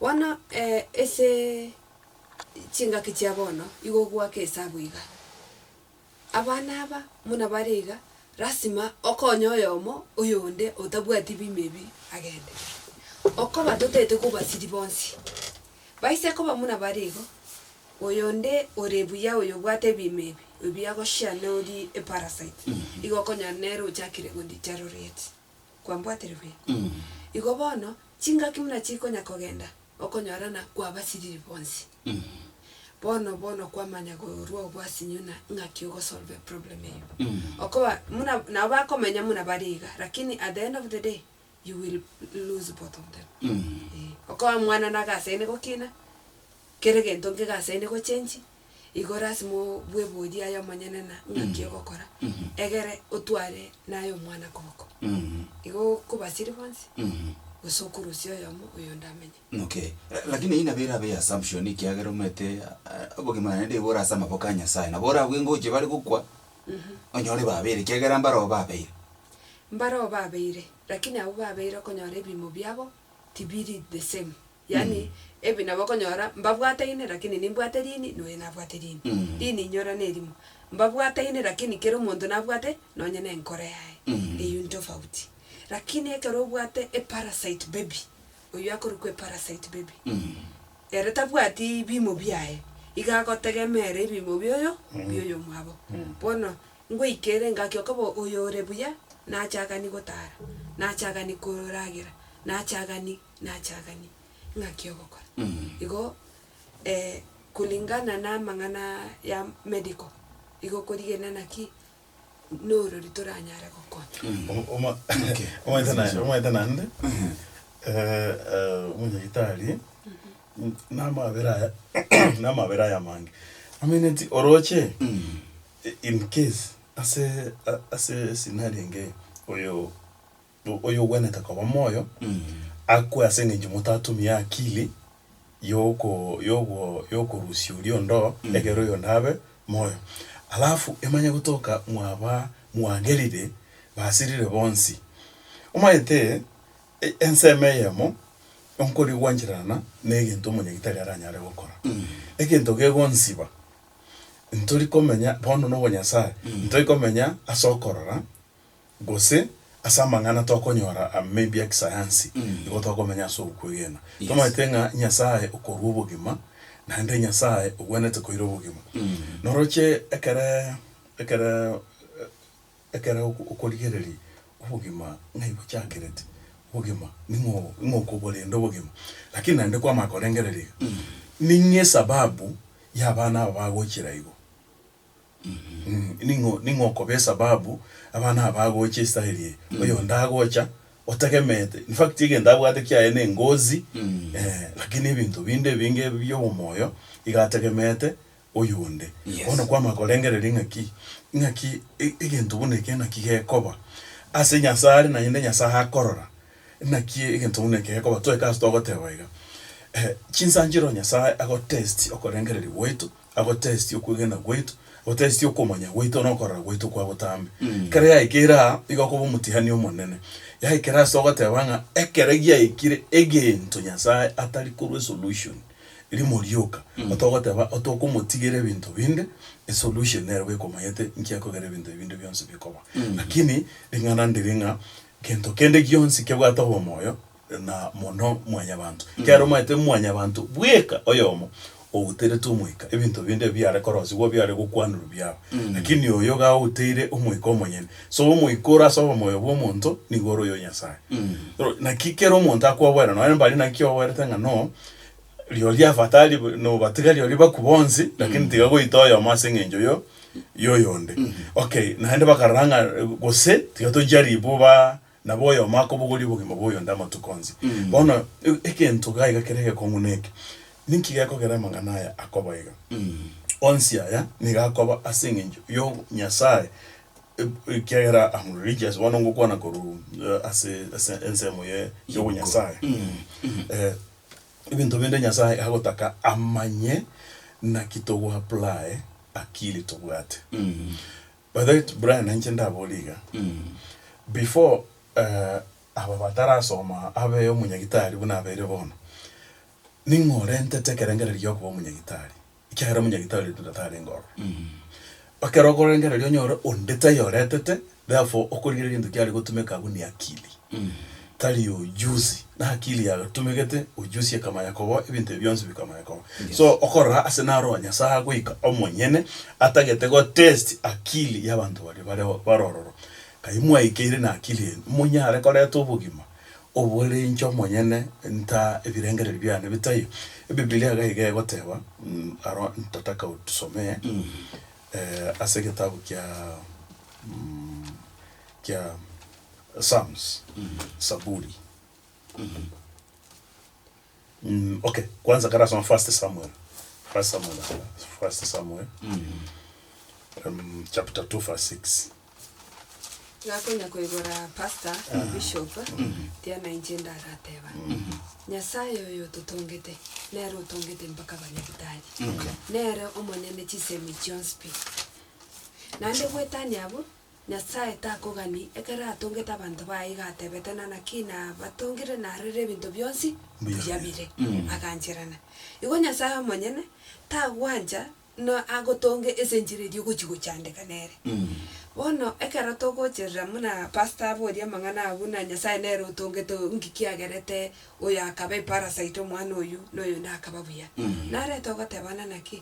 Bono ase chingaki chia bono igo goaka esabu iga, Abana aba buna bare iga, lasima okonye oyomo oyonde otabwati biimo ebi agende. Okoba totaete kobasiri bonsi, baise koba buna bare igo, oyonde ore buya oyobwate ebiimo ebi, ebi agoshare nori eparasite, igo okonyora nere ochakire goditaroreti. kwambwaterigwe. Igo bono chingaki buna chikonya kogenda, okonyorana kwabasiriri bonsi. Bono bono kwamanya korwa obwasinyo na ng'aki ogosolve eproblem eyio. Okoba buna nabo bakomenya buna bari iga, lakini at the end of the day, you will lose both of them. Eeh. Okoba mwana nagasaine gokina, kera egento nkegasaine gochengi, igo lasima obweborie aye omonyene na ng'aki ogokora, egere otware naye omwana koboko. Igo kobasiri bonsi, gose okurusia oyomo oyonde amenye. Okay. Eh, Lakini eyio nabo erabe assumption ekiagera omanyete eh, obogima naende igo bore ase amaboko a Nyasaye. Nabo oragwe ngochie bare gokwa, onyore babeire ekiagera mbaroo babeire. Mbaroo babeire, lakini abwo babeire okonyora ebiimo biabo tibiri the same. Yaani ebi nabo okonyora mbabwataine rakini nimbwate rini noyo nabwate rini. Rini inyora nerimo. Mbabwataine rakini kera omonto nabwate nonye ne enkoro yaye. Eyio ntofauti. Rakini ekero obwate e parasite baby, oyio akorokwa e parasite baby, ere tabwati bimo biaye, iga agotegemeera ebimo bia oyo bia oyomwabo. Bono ngoika ere engaki okoba oyo ore buya nachagani gotara, nachagani koragera, nachagani. nachaganie ng'aki ogokora. Igo kulingana na amang'ana ya medical, igo korigena naki norori toranyare gokonya. Omanyete naende omanyete naende omonyagetari na amabera aya na amabera aya amange. Ameneti oroche in case ase ase scenario engiya oyo. oyogwenerete koba moyo, akwe ase engencho motatumia akiri yoko yogo yokorusia oria ondoo ekero oyonde abe moyo. Alafu emanye gotoka mwaba mwagerire basirire bonsi. Omanyete e- ensemo eyemo onkori gwanchererana ne egento omonyagitari aranyare gokora. Egento gegonsiba ntori komenya bono nobonyasae ntori komenya ase okorora gose ase amang'ana tokonyora maybe a kisayansi, nigo tokomenya ase okwegena. Tomanyete ng'a Nyasaye okorua obogima, naende Nyasaye ogwenerete koira obogima. Noroche ekere ekere ekere okorigereria obogima ng'ai bochakerete, obogima ning'o ning'o okoborenda obogima. Lakini naende kwamanya korengereria iga, ning'o esababu y'abana aba bagochira igo. Ning'o ning'o okoba esababu abana aba bagocha estyle eye? Oyonde agocha otegemeete, in fact egento abwate kiaye ne engozi eh, lakini ebinto binde ebinge bia obomoyo iga ategemeete oyonde. Yes. Bono kwamanya korengereria ng'aki, ng'aki e- egento buna eke naki gekoba ase Nyasae are naende Nyasae akorora, naki egento buna eke gekoba. Toeke ase togoteba iga, chinsa nchire o Nyasae agotesti okorengereria gwaito. agotestie okwegena gwaito, agotestie okomanya gwaito na okorora gwaito kwa botambe. Ekero yaikire aa, iga okoba omotihani omonene. Yaikire ase ogoteba ng'a ekero giaikire egento Nyasaye atari korwa esolution, rimo rioka, otogoteba otokomotigera ebinto binde, esolution nere bwekomanyete nki akogera ebinto ebi binde bionsi bikoba. Lakini ring'ana ndiri ng'a gento kende gionsi kebwate obomoyo, na mono mwanyabanto, ekiagera omanyete mwanyabanto bweka oyomo outeretwe omoika, ebinto binde ebi biare korosigwa, biare gokwanerwa biao, lakini oyo iga outeire omoika omonyene. So omoika ore ase obomoyo bwa omonto nigo ore oyo Nyasae. Oro- Naki kera omonto akoboera nonye mbari naki oboerete ng'a no, rirorio afatari bu- nobatiga rirorio baku bonsi, lakini tiga goita oyomo ase eng'encho yo- yoyonde. Okay, naende bakarora ng'a gose tiga toncharibu ba. Nabo oyomo akobogoria obogima bw'oyonde amatuko onsi. Bono egento iga iga kere egekong'u neke, Ninki gekogera amang'ana aya akoba iga? Onsi aya nigo akoba ase engencho yo Nyasae, ekiagera am religious, bono ngokwana korwa ase ase ensemo ye y'obonyasae. Ebinto binde Nyasae agotaka amanye, naki togoapply akili tobwate. By the way Brian inche ndabore iga, before eh, aba batarasoma abe omonyagitari buna abeire bono, ning'o orentete ekerengererio gi'okoba omonyagitari? Ekiagera omonyagitari oito tarenge ororo. Ekero okorengereria onyore onde taiyo oretete, therefore okorigereria egento kiare gotumeka abwo ni akili. tari ojusi nakili yatumegete ojusi ekamanya koboa ebinto ebi bionsi bikamanya koboa Yes. so okorora ase naroa nyasaye agoika omonyene atagete gotest akili yabanto baria bare bare ororo kai mwaikeire na akili enyu monyare koreta obogima obore inche omonyene nta ebirengereri biane bitaiyo ebibilia iga iga egoteba mm aro ntataka otusomee ase egetabu kia mm kia. Psalms, Saburi, mm, okay, kwanza kare asoma First Samuel, First Samuel, First Samuel, um, chapter 2 verse 6. Nakonya koigora pastor na bishop tiana inche ndarateba Nyasaye oyo ototongete nere otongete mpaka abanyabitari nere omonyene chisemi chionsi pi naende gwetania abwo Nyasae takogani, ekero atongete abanto baye iga atebete, na naki nabatongire narorire ebinto bionsi mbuya bire, agancherana. Igo Nyasae omonyene tagwancha na agotonge ase enchera eria ogochi gochandeka nere. Bono ekero togocherera muna pastor aborie amang'ana abwo na Nyasae nere otongete nki kiagerete oyo akaba eparasite omwana oyio na oyonde akaba buya. Narete ogotebana naki?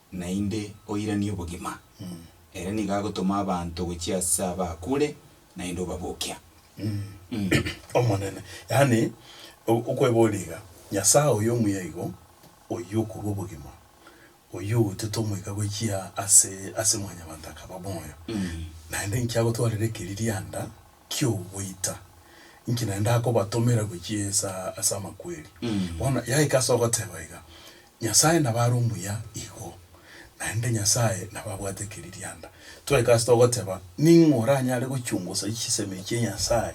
naende oiranie obogima, ere nigo agotoma abanto gochia ase abaakure, naende obabokia. Mh. Omonene, yaani o- okweboria iga, Nyasae oyo omuya igo, oyio okorua obogima, oyio ogotiete omoika gochia ase ase mwanyabanto akaba moyo, naende inki agotwarera ekeririanda ki'ogoita, inki naende akobatomera gochia inse ase amakweri. Bono yaika ase ogoteba iga, Nyasae nabo are omuya igo, naende Nyasae nabo abwate ekeririanda. Twaika ase togoteba, ning'o oranyare gochungusa chisemi echia Nyasae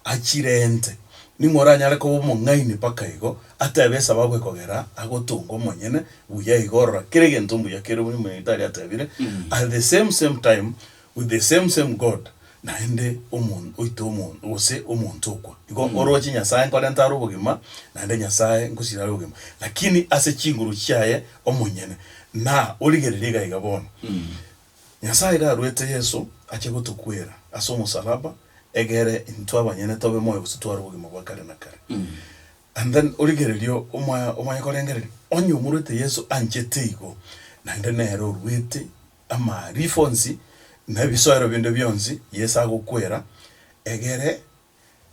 achirente? Ning'o oranyare koba omong'aini mpaka igo atebe esababu ekogera agotonga omonyene? Buya igo, rora, kera egento mbuya kere buna Nyasae atebire, at the same same time, With the same same God, naende omonto oito omonto, gose omonto okwa, igo oroche Nyasaye nkorenta are obogima, naende Nyasaye nkosira are obogima, lakini ase chinguru chiaye omonyene. Na origererie iga iga bono, Nyasaye iga aruete Yeso ache gotokwera ase omosalaba, egere intwe abanyene tobe moyo gose tware obogima bwa kare na kare. And then origererie omwa omanye korengereria, onye omoruete Yeso anchete igo, naende nere oruete. amaarifo onsi, na ebisoero binde bionsi, Yeso agokwera, egere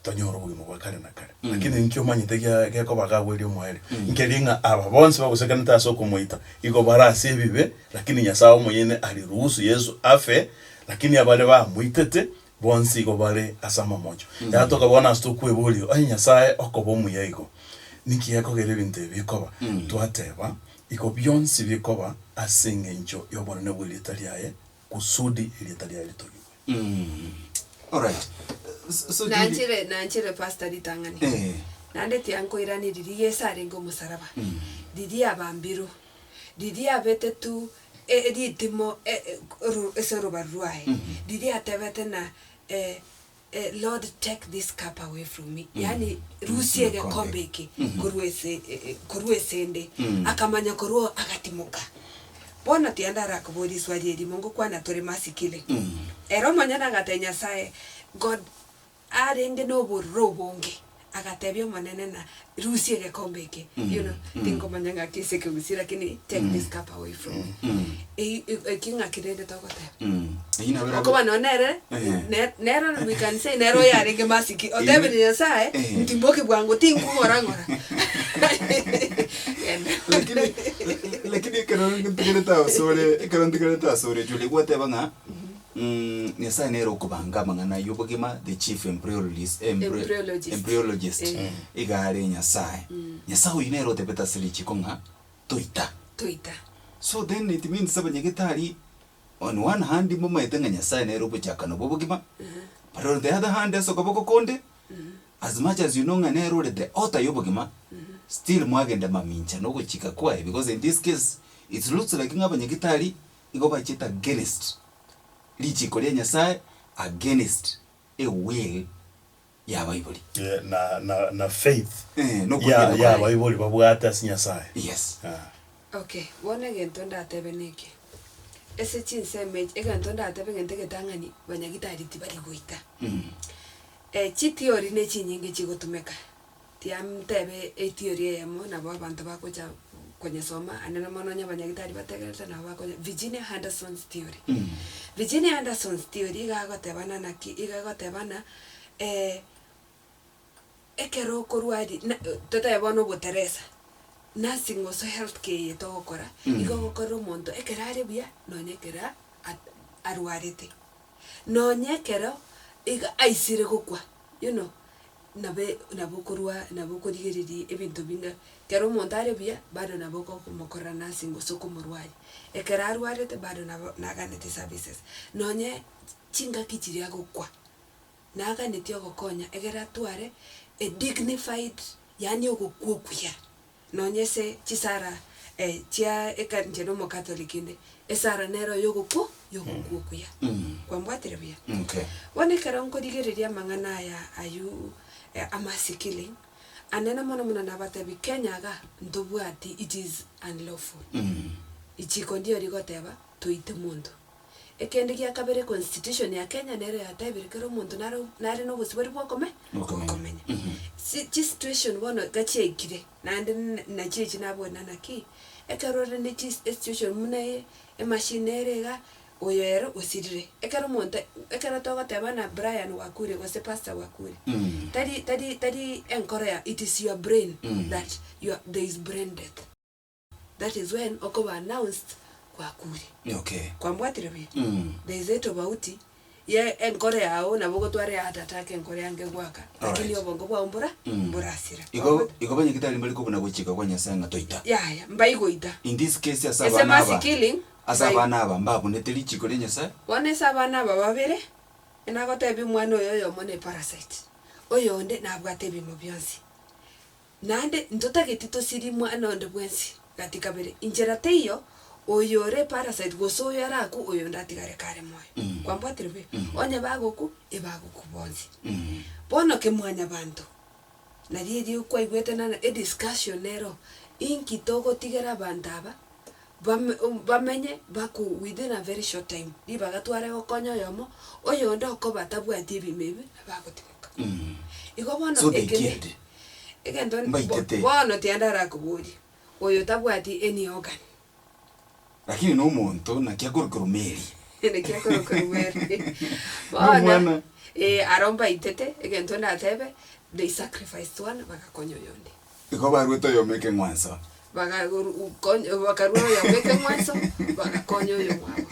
tonyore obogima bwa kare na kare. Lakini ninki omanyete gia gekoba gagweria omoerio? Nkeria ng'a aba bonsi bagosekanete ase okomoita, igo bare ase ebibe, lakini Nyasae omoyene ariruhusu Yeso afe, lakini abare bamoitete Bonsi igo bare ase amamocho. Yatoka bono ase tokweboria, Onye Nyasae okoba omuya igo, ninki gekogera ebinto ebi bikoba? Twateba, Iko bionsi bikoba ase engencho y'obonene bw'erieta riaye, kusudi erieta riaye ritogigwe. Alright. So- so Judy- Nanchire nanchire pastor ritang'ani. Eh. Naende tiankoiranirie Yeso arenge omosaraba. Riria abambirwe. Riria abetetwe e, ritimo e, e, ru, ase orobaru rwaye, riria atebete na e, e, Lord take this cup away from me, yaani rusia egekombe eke korwa ase, e, e, korwa ase 'nde. Akamanya korwa oo agatimoka. Bono tiende arakobori riswari erimo ngokwana tore masikire. Ere omonyene agatebia Nyasaye, God, Arenge nobororo obonge, agatebia Omonene, na rusia egekombe eke, you know, tinkomanya ng'aki ase ekegusi, lakini take this cup away from me. Ei- ei- eki ng'aki rende togoteba. Eyio nabo era- Okoba nonya nere, Eh. ne- nero ore mwekanisa eye nere oyarenge masiki, otebire Nyasaye, Eh. ntimboke bwango, tinkong'ora ng'ora. Genda. Lakini, lakini ekero ntegerete asore, ekero ntegerete asore, Julie, gwateba ng'a, Umm Nyasaye nere okobanga amang'ana y'obogima the chief embriologist Embryologist. embryologist Eh. iga are Nyasaye. Nyasaye oyio nere otebete ase richiko ng'a toita. Toita. So then it means abanyagitari on one hand mbamaete ng'a Nyasaye nere obochakano bw'obogima but on the other hand ase okoboko konde as much as you know ng'a nere ore the author y'obogima still mwagenda mamincha nogochika kwaye because in this case it looks like ng'a abanyagitari igo bachete against richiko ria Nyasae, against ewill y'abaibori. Eh, na, na, na faith Eh, ya, nokwegena kwaye. y'abaibori babwate ase Nyasae. Yes. Ah. Ok, bono egento ndatebe neke, ase chinsemo echi, egento ndatebe egento egetang'ani banyagitari tibari goita. Eh, chitiori ne chinyinge chigotumeka. Tiamtebe etiori eyemo nabo abanto bagocha konyesoma ande na mono onye abanyagitari bategerete nabo bakonye Virginia Henderson's theory. Virginia Henderson's theory iga agotebana naki iga egotebana ekero okorwari na totebe bono oboteresa, nursing gosu health care eye togokora iga ogokorera omonto ekero are buya nonye ekero a arwarete. Nonya ekero iga aisire gokwa, you know, nabo e nabo okorwa nabo okorigereria ebinto binde. Ekero omonto are buya, bado nabo okokomokorera nursing gose okomorwaria. Ekero arwarete bado nabo naganeti services. Nonye chingaki chiria agokwa, naganeti ogokonya egere atware a dignified yaani ogokwa okuya. Nonya ase chisara chia ekancha ere omokatoliki inde, esara nero yogokwo yogokwa okuya. Kwambwatire buya? Bono ekero nkorigereria amang'ana aya ayio amasikiri, anene mono mono nabatebi Kenya iga ntobwati it is unlawful. Richiko ndiyo rigoteba. toite monto. Ekende gia kabere constitution ya Kenya nero yatebire kera omonto naro nare na obosibori bwa okome Bw'okomenya. bw'okomenya. Si chi situation bono iga chiaikire naende na nachire echi naboria naki, ekero ore ne chi esituation muna eye, emachine nere iga, oyo ere osirire. Ekero omonto ekero togoteba buna Brian Wakure gose Pastor Wakure, tari tari tari enkoro ya it is your brain that your there is brain death. That is when okoba announced kwakure. Okay. Kwambwatire buya? Mm. There is a tobauti ye enkoro yao nabo ogotwara heart attack enkoro yange egoaka lakini Alright. obongo bwao mbora Mm. mborasira. Igo Kwambwati- igo abanyagete aria mbari kobuna gochika kwa Nyasae ng'a toita. Yaya, mbai goita. In this case ase Ase abana mercy aba, killing, ase mbai- abana aba mbabunete richiko ria Nyasae. Bono ase abana aba babere, enagotebia omwana oyo oyomo ne parasite, oyonde nabwate ebiimo bionsi. Naende ntotageti tosirie mwane onde bwensi gati kabere, inchera teiyo oyore parasite gose oyo are aku oyonde atigare kare moyo. Kwambwatire buya? Onye bagoku, ebagoku bonsi. Bono ke mwanyabanto, nari erio kwaigwete nana ediscussion nero, inki togotigera abanto aba Bame, um, bamenye baku within a very short time, ribaga tware gokonya oyomo, oyonde okoba tabwati ebiimo ebi, abe agotimoka. Igo bono So they eke ne, killed. egento, bo, Mbaitete. bono tiende arakoborie, oyo tabwati any organ. Lakini nomonto naki akorokerwa Mary. Naki akorokerwa Mary. Bono, Nomwana. ee, aro mbaitete, egento ndatebe, they sacrificed one, bagakonya oyonde. Igo baruete oyomo ekeng'wanso. Bagakonya, bakarua oyomo ekeng'wanso, bagakonya oyomwabo.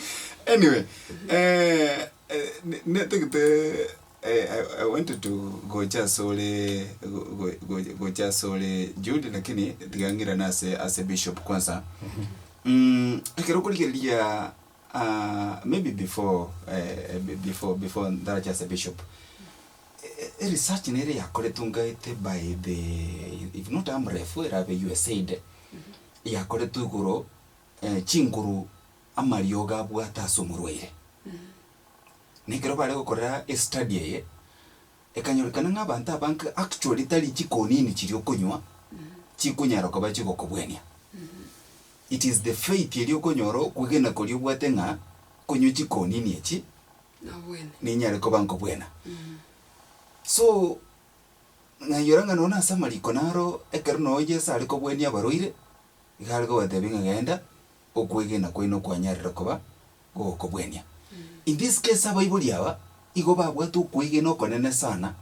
Anyway, eh, netagete I wanted to gocha asore gocha asore Jude lakini tiga ng'irane ase ase bishop kwansa. Ekero okorigereria. Maybe before before before ndarache as a bishop e research nere yakoretwe ngaete by the if not Amref erabe USAID yakoretwe igoro chinguru amariogo abwate ase omorwaire na ekero bare gokorera estudy eye Ekanyorekana ng'a abanto abange actually tari chikonini chiria okonywa chikonyara koba chigokobwenia. It is the faith eria okonyora okwegena koria obwate ng'a konywa chikonini echi Nobwene. ninyare koba nkobwena. So nainyora ng'a nonya ase amariko naro ekero nonya Yeso are kobwenia abarwaire, iga are kobatebia ng'a genda okwegena kwaino kwanyarire koba gogokobwenia. In this case abaibori aba igo babwate okwegena okonene sana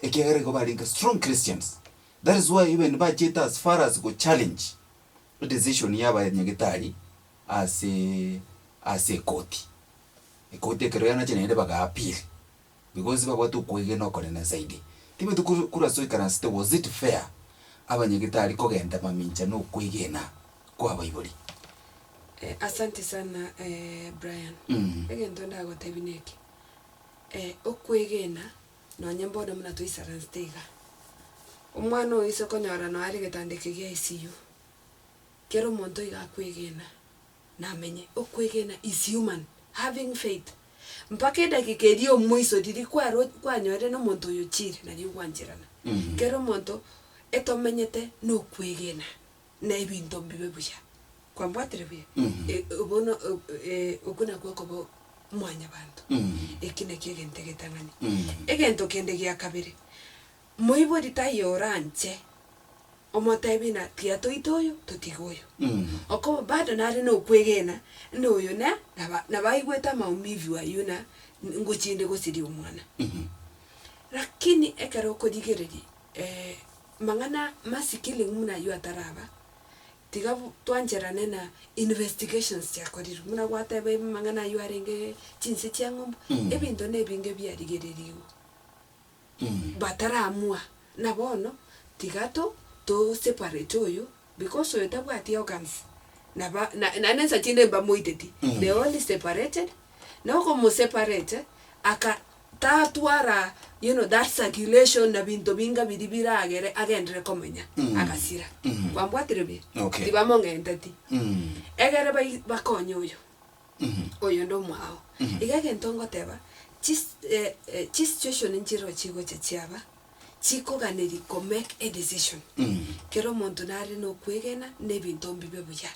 ekiagera igo barenge strong Christians. That is why even bachete as far as gochallenge edecision ya abanyagetari ase ase ekoti. Ekoti ekero yanache naende bagaapiri. Nigo onsi babwate okwegena okonene zaidi. Tibeti kuru kuru ase oikaransete was it fair abanyagitari kogenda mamincha na okwegena kwa abaibori? Eh asante sana eh Brian. Mm. Egento ndagotebi neke, eh okwegena nonye mbono muna toisaransete iga, omwana oise okonyora nonya are getanda eke gia ICU, kera omonto iga akwegena, namenye okwegena is human having faith mpaka edageka eria omoiso riria kwaro kwanyorire nomonto oyo chire nario gwancherana kera omonto etomenyete nokwegena na ebinto mbibe buya kwambwatire buya e bono okwo nakwo okoba mwanyabanto eki nakio egento egetang'ani egento kende giakabere. Moibori taiyo oranche omotebi na tiatoite oyo totige oyo. Okoba bado nare nokwegena na oyo na naba nabaigwete amaumivu ayio na ngochinde gosiria omwana. Lakini ekero okorigereria mang'ana masikilimu muna ayio ataraba, tiga bu twancherane na investigations chiakorirwe muna gwateba mang'ana ayio arenge chinse chia ng'ombe ebinto na ebinge biarigererigwe. bataramua, na bono tiga to to separate oyo because oyo tabwati organs naba na naende ensa chinde mbamoiteti they are only separated na okomoseparate aka tatwara you know that circulation na binto binga biri biragere agendere komenya agasira kwambwatire buya Okay. tibamong'enteti egere bai bakonye oyo. Oyo ndomwa ao. Iga egento ngoteba, chi eh chi situation nchireo chigocha chiaba, chikoganeri ko make a decision. Kera omonto nare nokwegena na ebinto mbibe buya.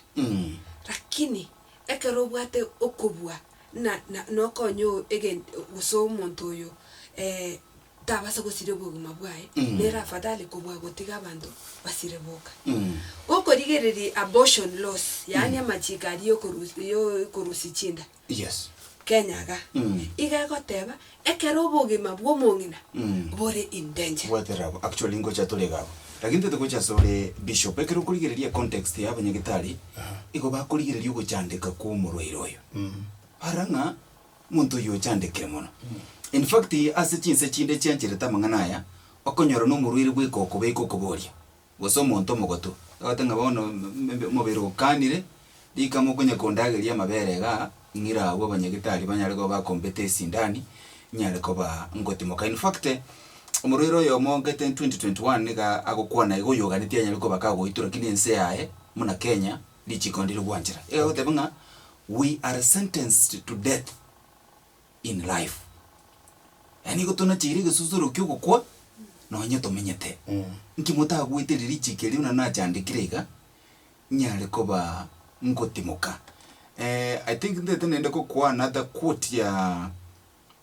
Lakini ekero obwate okobua na na nokonya o egent gose omonto oyo eh. tabasa gosiria obogima bwaye, Mm. nere afadhali kobua gotiga abanto basire boka. Mm. Gokorigereria abortion laws, yaani amachiko aria yokorusi yokorusia chinda Yes. Kenya iga, Mm. iga egoteba ekero obogima bwa omong'ina Mm. bore in danger. Bwatera abwo. Actually ngocha torega abwo. Lakini tote gocha ase ore bishop ekero okorigereria context ya abanyagitari igo bakorigereria ogochandeka kwa omorwaire oyo. Bara ng'a Omonto oyio ochandekire mono. In fact, ase chinse chinde chiancherete amang'ana aya, okonyora nomorwaire bweka okobeka okoboria, gose omonto omogotu, agote ng'a bono omobere okanire, rika mokonya kondageria amabere iga, ng'ira agwo abanyagitari banyare koba bakombete esindani, nyare koba ngotimoka. In fact, omorwaire oyomo gete in 2021 niga agokwana iga oyoganetie anyare koba kagoitwa, lakini ense yaye, buna Kenya. Richiko ndiri gwanchera iga goteba ng'a we are sentenced to death in life, yaani igo tonacheire egesusuro ki'ogokwa nonye tomenyete. Nki motagweteire richiko erio buna nachandekire iga, nyare koba ngotimoka? I think ntete naende gokwana ata quote ya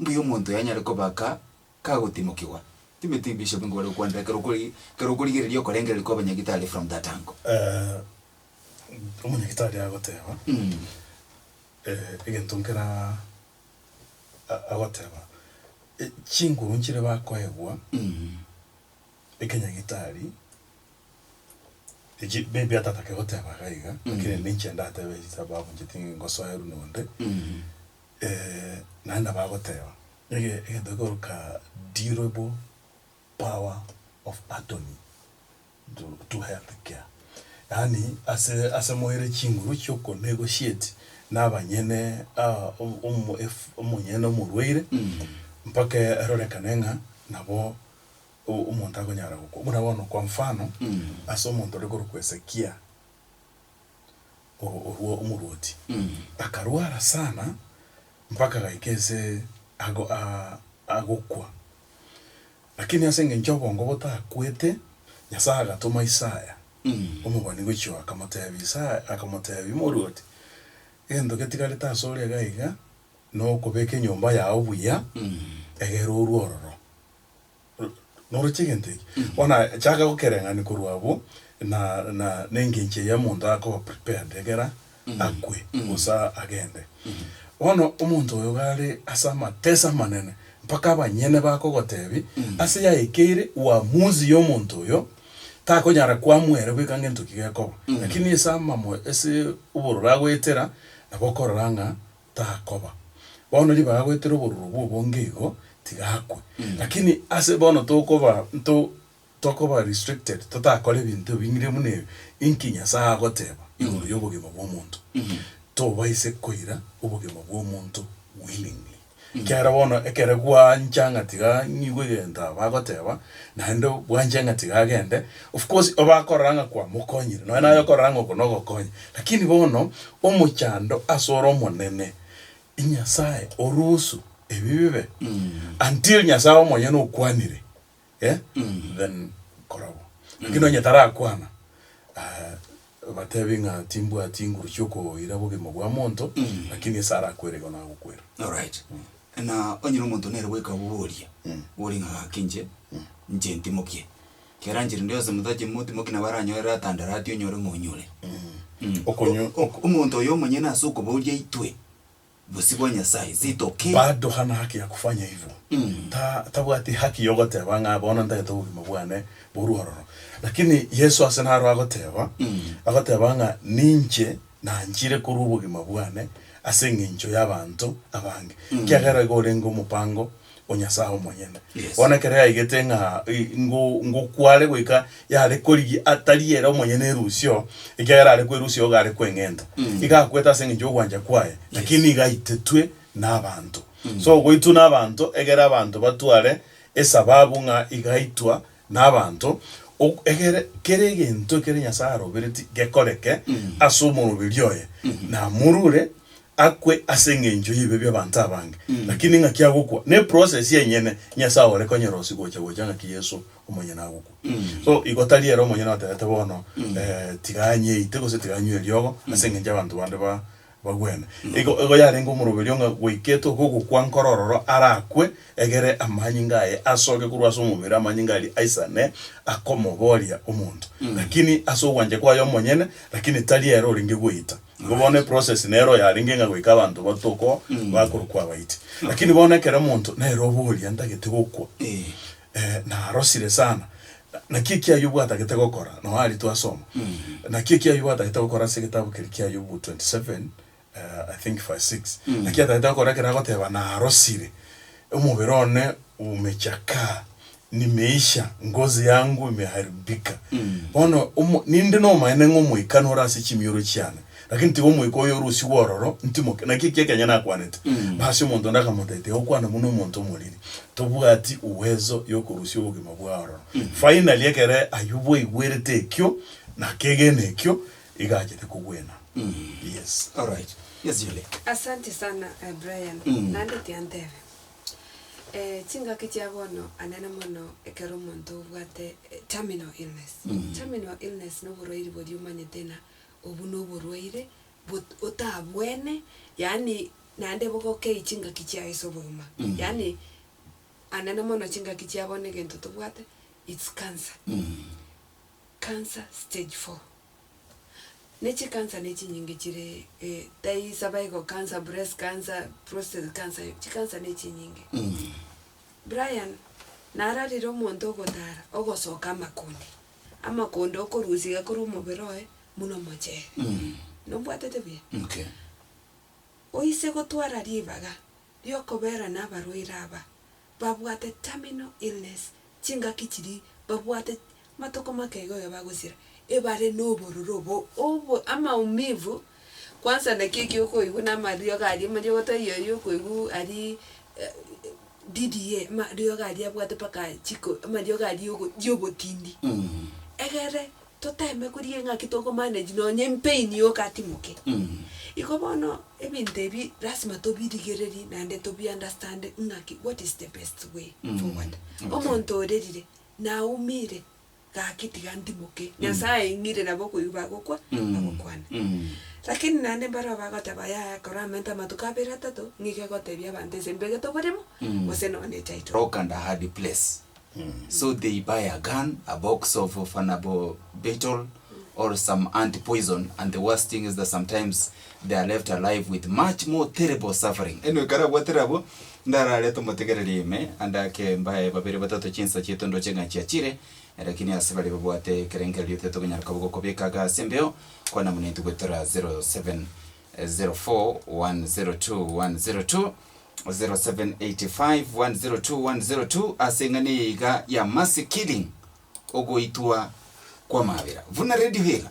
Mbuya omonto oyo anyare kobaka kagotimokigwa. Timeti bishop nigo bare gokwanera ekero okori ekero okorigereria okorengereria kwa abanyagitari from that angle. Eh, omonyagitari agoteba, eh, egento nkera a- agoteba, e- chinguru nchire bakoegwa ekenyagitari, echi maybe atatake goteba iga iga, lakini ende inche ndatebe echi taba abuncheti ngosoerwa nonde. Ee, naende bagoteba, Ege egento gekoroka durable power of attorney to to health care, yaani ase ase moire chinguru chi'oko negotiate na abanyene aa omo omo ef omonyene omorwaire, mpaka erorekane ng'a nabo o omonto akonyara gokwa. Buna bono kwa mfano, ase omonto ore korokwa Hezekia. orwo omorwoti akarwara sana mpaka agaika ense agokwa. Lakini ase engencho y'obongo botakwete, Nyasae agatoma Isaya omobani gochia akamotebia, akamotebia morwoti, egento getigarete ase ore iga iga nokobeka enyomba yao buya, egere orwe ororo. Noroche egento eke, bono chaka gokereng'ania korwa abwo, na, na, na engencho eye omonto akoba prepared ekero akwe, gose agende. Bono omonto oyo gare ase amateso amanene, mpaka abanyene bakogotebia, ase yaekeire uamuzi ya omonto oyo, takonyara koamua ere bweka ngento ki gekoba, lakini ase amamo, ase obororo agoetera, nabo okorora ng'a takoba. Bono ribaga goetera obororo bw'obonge igo, tiga akwe. Lakini ase bono tokoba nto tokoba restricted, totakora ebinto ebing'ire buna ebi, inki Nyasae agoteba igoro y'obogima bw'omonto? Tobaise koira obogima bw'omonto willingly. Ekiagera bono ekero gwancha ng'a tiga ng'igwe egento aba agoteba, naende bwancha ng'a tiga agende. Of course obe akorora ng'a kwa mokonyire, nonya naye okorora ng'a oko nogokonya, lakini bono omochando asore omonene, Nyasaye orusu ebi bibe until Nyasaye omonyene okwanire eh, then kora bo. Lakini nonya tarakwana, ah, batebi ng'a timbwati inguru chiokoira bogima bwa monto, lakini ase arakwere igo nagokwera. Alright. Na onye na omonto nere bweka oboboria, boria ng'a gaki inche, inche ntimokie. Keranchiri nde yonsi motache moti moki nabo aranyorere atandare atie onyore omonyure. Mm. Okonyo- O- o- Omonto oyo omonyene ase okobooria itwe bosio bwa Nyasae, sitoki. Bado hana haki ya kufanya hivyo Mm. Ta, tabwati haki yogoteba ng'a bono ntagete obogima bwane borue ororo. Lakini Yesu ase naro agoteba, Mm. agoteba ng'a ninche Nanchire korwa obogima bwane ase engencho y'abanto abange, ekiagera igo orenge omopango o Nyasae omonyene. Yes. Bono ekero yaigete ng'a i- ngo- ngokware goika yare korigia atari ere omonyene erusio, ekiagera are kwerusia igo are kweng'enta. Iga akwete ase engencho y'ogwancha kwaye, lakini nigo aitetwe nabanto. So goitwa nabanto, egere abanto batware esababu ng'a iga aitwa nabaanto, ok, egere kera egento ekere Nyasae arobereti gekoreke ase omoroberi oye, namorure akwe ase engencho y'ebibe bi'abaanto abange. Lakini ng'aki agokwa, neprocess enyene Nyasae ore konyerosia gocha gocha ng'aki Yeso omonyene agokwa. So, igo tari ere omonyene oterete bono, eh, tiga anyeite gose tiga anywe eriogo ase engencho y'abaanto bande ba. Bagwene. Igo, igo yarenge omoroberio ng'a gwaikete oko ogokwa nkoro ororo arakwe, egere amanyinga aye asoke korwa ase omobere, amanyinga aria aisane akomoboria omonto. Lakini ase ogwancha kwaye omonyene, lakini tari ere orenge gweita. Igo bono eprocess nere oyarenge ng'a goika abanto batokwa, bakorokwa abaiti. Lakini bono ekero omonto nere oboria ntagete gokwa, Ee. eh, narosire sana, Naki ekiaye obwatagete gokora, nonya aria twasoma, naki ekiaye obwatagete gokora ase egetabu keria kia Ayubu 27, I think verse 6, naki atagete gokora ekero agoteba, Narosire omobere one umechakaa, nimeisha, ngozi yangu imeharibika. Bono, omo, ninde nomobaene ng'a omoika nore ase chimioro chiane, Lakini tiga omoika oyo ore usigu ororo ntimoke. Naki ekiya ekenge nakwanete, Basi omonto onde akamotebia, Tiga gokwana buna omonto omoriri, tobwati uwezo y'okorusia obogima bwaye ororo. Finally, ekero Ayubu aigwerete ekio, na akegena ekio, iga achete kogwena. Yes. Alright. Yes, Julie. Asanti sana eh, Brian. Naende tiantebe, eh, chingaki chia bono anene mono ekero omonto obwate eh, terminal illness. Terminal illness noborwairi boria omanyete ng'a Obwo na oborwaire bot otabwene, yaani naende bogokei chingaki chiago ase obogima. Mm. Yaani anene mono chingaki chia bono egento tobwate it's cancer. Cancer stage four. Na echi cancer na echinyinge chire eh tai cervical cancer, breast cancer, prostate cancer, chi cancer na echinyinge. Brian nararire omonto ogotara ogosoka amakundi. amakonda okorusia iga korwa omobere oye buna omochere. Nobwatete buya? Okay. Oise gotwara ribaga riokobera nabarwaire aba babwate terminal illness, chingaki chiri babwate matoko make igo iga bagosira, ebare nobororo obo obo amaumivu Kwansa naki eki okoigwa na amariogo aria amariogo tai ayi okoigwa arii DDA amariogo aria abwate mpaka chiko amariogo aria ogo ya obotindi. Egere toteme korigia ng'aki toko manage nonye epain yoka atimoke. Igo bono ebinto ebi lasima tobirigererie naende tobi understand ng'aki what is the best way forward. Omonto orerire, naumire. Gaki tiga ntimoke, Nyasae aing'ire nabo okoigwa bagokwa, bagokwana. Lakini naende mbarabwo bagoteba, Yaya, kora amanto amatuko abere atato, ng'ika egotebia abanto ase mbegete oborimo, gose nonya ne title. Rock and a hard place. So they buy a gun, a box of fanable betel or some anti poison and the worst thing is that sometimes they are left alive with much more terrible suffering. Anyway, kare abwatere abwo, Ndarare tomotegererie ime, ande ake mbae babere batato chinsa chiaito ndoche ng'a chiachire, lakini ase baria babwate ekerengererio tetokonyara koba gokobeka iga ase embeo, kwana buna intwe goetera 0704010202, 0785102102 ase eng'ana eye iga ya Mercy Killing, Ogoitwa kw'Amabera. Buna Radio Hira.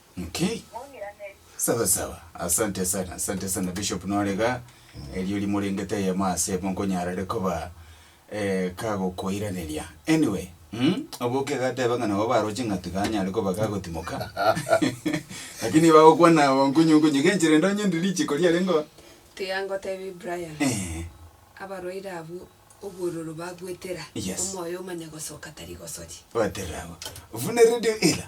Inki? Sawa sawa. Asante sana, asante sana Bishop nore iga, erio rimorengete eyemo ase emo nkonyara ere koba eh, kagokoiraneria. Anyway, mm, oboke iga ateba ng'a nabo baroche ng'a tiga anyare koba kagotimoka. Lakini bagokwana abo nkunyu nkunyu, genchera ndonye ndi richiko riarengeo. Tiga ngotebie Brian, Eh, abarwaire abwo obwororo bagwetera, Yes. omoyo omanye gosoka tari gosoria. gweterera abwo. Buna radio ela,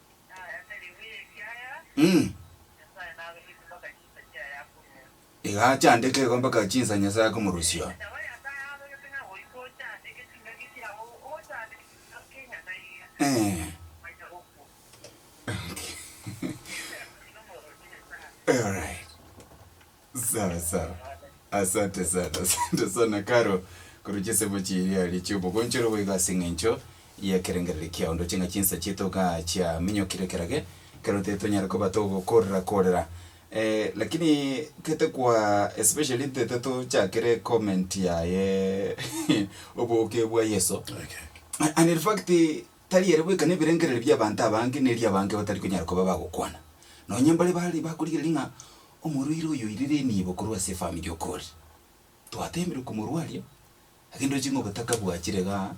Iga achandeke igo mpaka chinsa Nyasae akomorusia oo. Alright. Sawa sawa. Asante sana, asante sana Caro, korwa chisemo chiria aria chiobogonchoro boigo ase eng'encho y'ekerengerero kiao. Ndoche ng'a chinsa chiaito igaa chiaminyokire ekero eke, ekero tari tonyare koba togokorera korera. lakini tete kwa especially tete tochakere comment yaye oboke bwa Yeso. And in fact, Tari ere bweka nebirengererio bi'abanto abange ne ri'abange batari konyara koba bagokwana, nonya mbare bare bakorigereria ng'a omorwaire oyo oirire enibo korwa ase efamiri okoorire. Twateemire komorwaria, age ndoche ng'a obotaka bwachire iga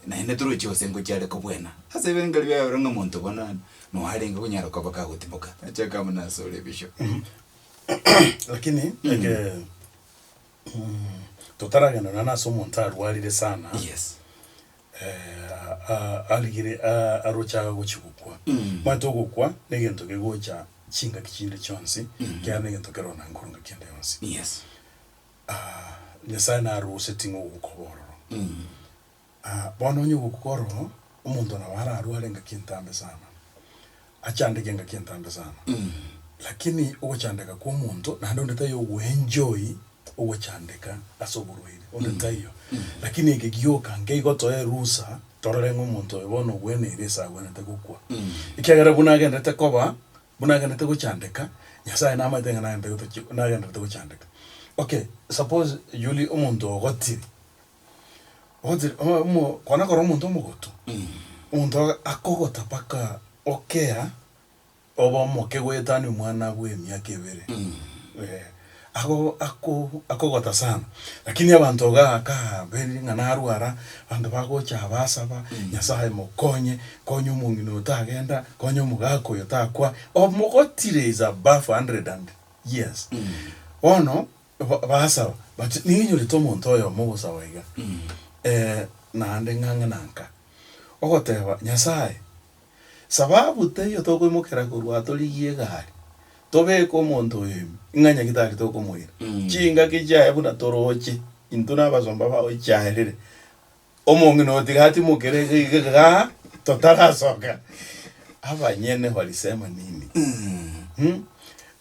naende toroche gose ngochia are kobwena. Ase ebirengererio biaye ore ng'a omonto bono noarenge konyara koba kagotimoka. Nache akabuna asore bishop. Lakini eke. Totaragenda nonya nase omonto arwarire sana, Yes. eh, a- arigire a- aroche agochia gokwa. Omanyete ogokwa negento kegocha chingaki chinde chionsi, ekiagera negento keroro na nkoronge kende yonsi. Yes. Nyasaye naroseti ng'a ogokoba ororo. Aa, bono onye ogokora oo, omonto nabo ararware engaki entambe sana, achandeke engaki entambe sana. Lakini ogochandeka kwa omonto, naende onde taiyo ogoenjoy ogochandeka ase oborwaire, onde taiyo. Lakini eke gioka nkeigo toe erusa, torore ng'a omonto oyo bono ogweneire ase agwenerete gokwa. Ekiagera buna agenderete koba, buna agenderete gochandeka, Nyasae namaete ng'a nagenderete gotoche, nagenderete gochandeka. Okay, suppose Julie omonto ogotire. Ogochire o- omo kwana kore omonto omogotu, omonto oga akogota mpaka okera, obe omoke goetania omwana bw'emiaka ebere, eh, ago ako akogota sana. Lakini abanto igaa kaa beire ng'a narwara, abanto bagocha basaba, Nyasaye mokonye, konya omong'ina oyo tagenda, konya omogaka oyo takwa, omogotire is above hundred and years. Bono. Ba- Baasaba bati, Nigo inyorete omonto oyomo ogosaba iga, ee, naende ng'ang'a na nka, ogoteeba, Nyasae, saba abwo teiyo tokoimokera korwa aa torigie egari, tobeke omonto oyo ime, ng'a nyaki tari tokomoira. Chingaki chiaye buna torooche, intwe na abasomba bao chiarire, Omong'ina otigatimokere iga totarasoka. Abanyene balisema nini? Hmm?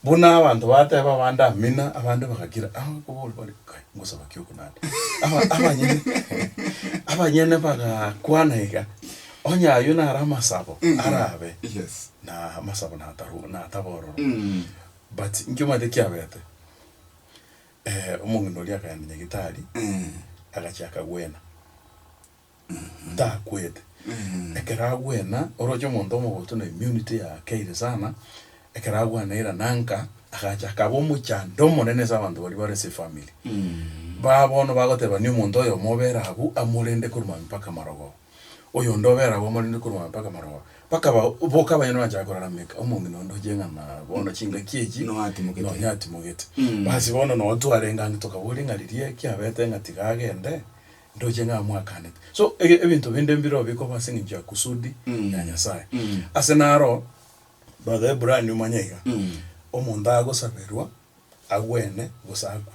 Buna abanto bateba abande amina, abande bagakira. Aba kobori bari, "Kai, ngosaba ki okonande?" Aba- Abanyene abanyene bagakwana iga, onye ayio nare amasabo arabe Yes. na amasabo nataru- natabororo. Mm. But inkio omanyete kiabete? omong'ina oria akaenda nyagetari, agachia akagwena, takwete. Ekero agwena, oroche omonto omogotu na immunity yakeire sana, ekero agwenaire nanka, agacha akaba omochando omonene ase abanto baria bare ase efamily. Baa bono bagoteba ni omonto oyomo obere abwo, amorende korwa maambia mpaka amarogoba. Oyonde obere agwo morende korwa mpaka maroba. Mpaka ba- boka abanyene banchaka korara meka, omong'ina onde oche ng'a na bono chingaki echi. Nonya atimogete. Nonya atimogete. Basi bono nonye twarenge ang'e tokaboria ng'a riria eki abete ng'a tiga agende, ndoche ng'a amwakanete. So, ege- ebinto binde mbire obikwa bo ase eng'encho ya kusudi ya Nyasaye. Ase naro, Brother Ebrania omanye iga, omonto agosaberwa. agwene gose akwe.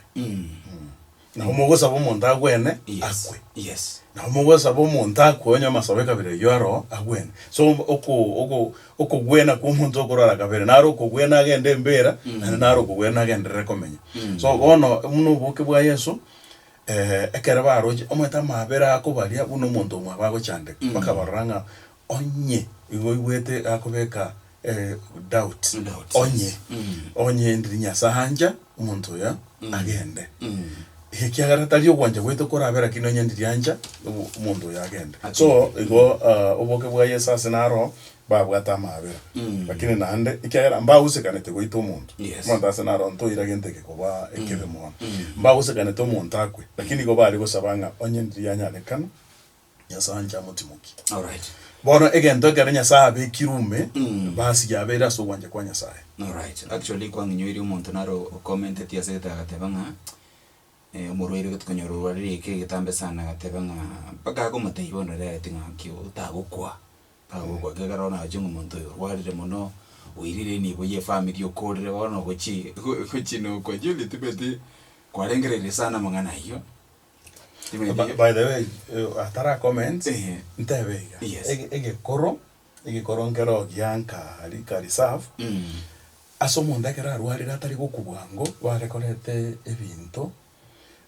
Nabo mogosaba omonto agwene akwe. Yes. Nabo mogosaba omonto akwe onye amasoba ekabere ayio aro agwene. So oko oko okogwena kwa omonto okorara kabere naro okogwena agende embera naende naro okogwena agenderere komenya. So bono buna oboke bwa Yeso ekero baroche omanyete amabera akobaria buna omonto omwabo agochandeka bakabarora ng'a Onye igo oigwete gakobeka eh, doubt, Doubt, yes. onye onye ndiri Nyasae ancha omonto oyo agende. Ekiagera tari ogwancha gwaito korabe lakini onye ndiri ancha obo- omonto oyo agende. So igo ah, oboke bwa Yeso ase naro babwate amaabera. Lakini naende ekiagera mbagosekanete goita omonto. Yes. Omonto ase naro ntoire gento eke koba ekebe mono. Mbagosekanete omonto akwe lakini igo bare gosaba ng'a onye ndiri yanyarekana Nyasae anche amotimokie. Alright. Bono egento ekero Nyasae abekire ume, Mm. basi yabeire ase ogwancha kwa Nyasae. Alright. Actually kwang'inyoiri omonto naro o- ocommenteti ase egetabo agateba ng'a eh, omorwaire gete konyora orwarire eke egetambe sana agateba ng'a mpaka akomotebia bono ere agete ng'a nki otagokwa, otagokwa iga ekero naochia ng'a omonto oyo orwarire mono, oirire nibo ya efamiri okorire bono ogochie go- gochia nokwa Julie tibeti kwarengereire sana amang'ana ayio, Tibiri Ba- by the way eh, atara comment Ehe. ntebe iga Yes. Ege- egekoro egekoro nkero gianka rika reserve Mm. ase omonto ekero arwarire atari gokubwa ngo barekorete ebinto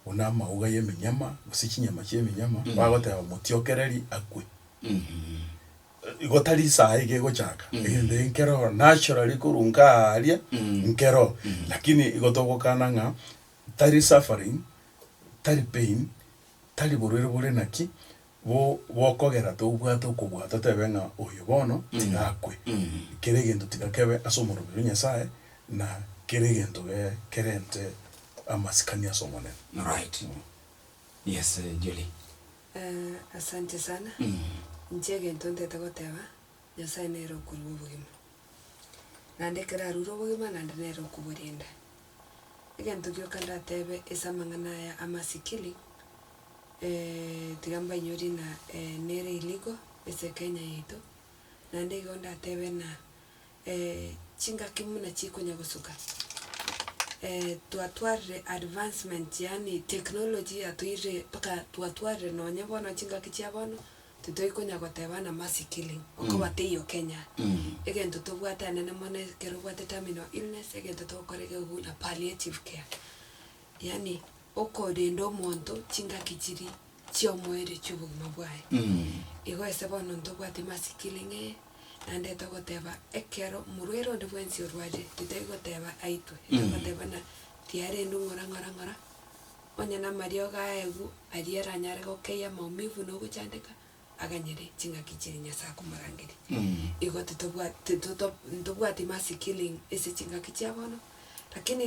buna amauga y'eminyama gose chinyama chi'eminyama bagoteba motiokereri akwe Mhm. igo tari saha iga egochaka egento eke nkero naturally korwa nkaria nkero lakini igo togokana ng'a Tari suffering, tari pain, tari borwaire bore naki bo bokogera tobwate okobua totebe ng'a oyo bono tiga akwe. Kera egento tiga kebe ase omorobio o Nyasae na kera egento ge kerente amasikani ase Omonene. Alright. Yes, Julie. Eh, asante sana. Inche egento ntete goteba, Nyasae nere okorua obogima. Naende ekero arure obogima naende nere okoborenda. Egento gioka ndatebe ase amang'ana aya amasikiri, tiga mbainyorie ng'a nere irigo ase kenya yaito, naende igo ndatebe ng'a chingaki buna chikonya gosuka twatwarire advancement yaani technology yatoirire mpaka twatwarire nonye bono chingaki chia bono. Titoi konya goteba na Mercy Killing okoba teiyo Kenya. Egento tobwate anene mono ekero obwate terminal illness egento togokora egekugu na palliative care. Yaani okorenda omonto chingaki chiri chiomoerio chiobogima bwaye. Igo ase bono ntobwati Mercy Killing eye naende togoteba ekero omorwaire onde bwensi orwarire titoi goteba aitwe. Togoteba buna tiarendwe ng'ora ng'ora ng'ora. Onye namariogo aegu aria aranyare gokeyia amaumivu na ogochandeka, aganyere ching'aki chiria Nyasae akomorangeria. Igo titobwati, tito, ntobwati mercy killing ase ching'aki chia bono, lakini.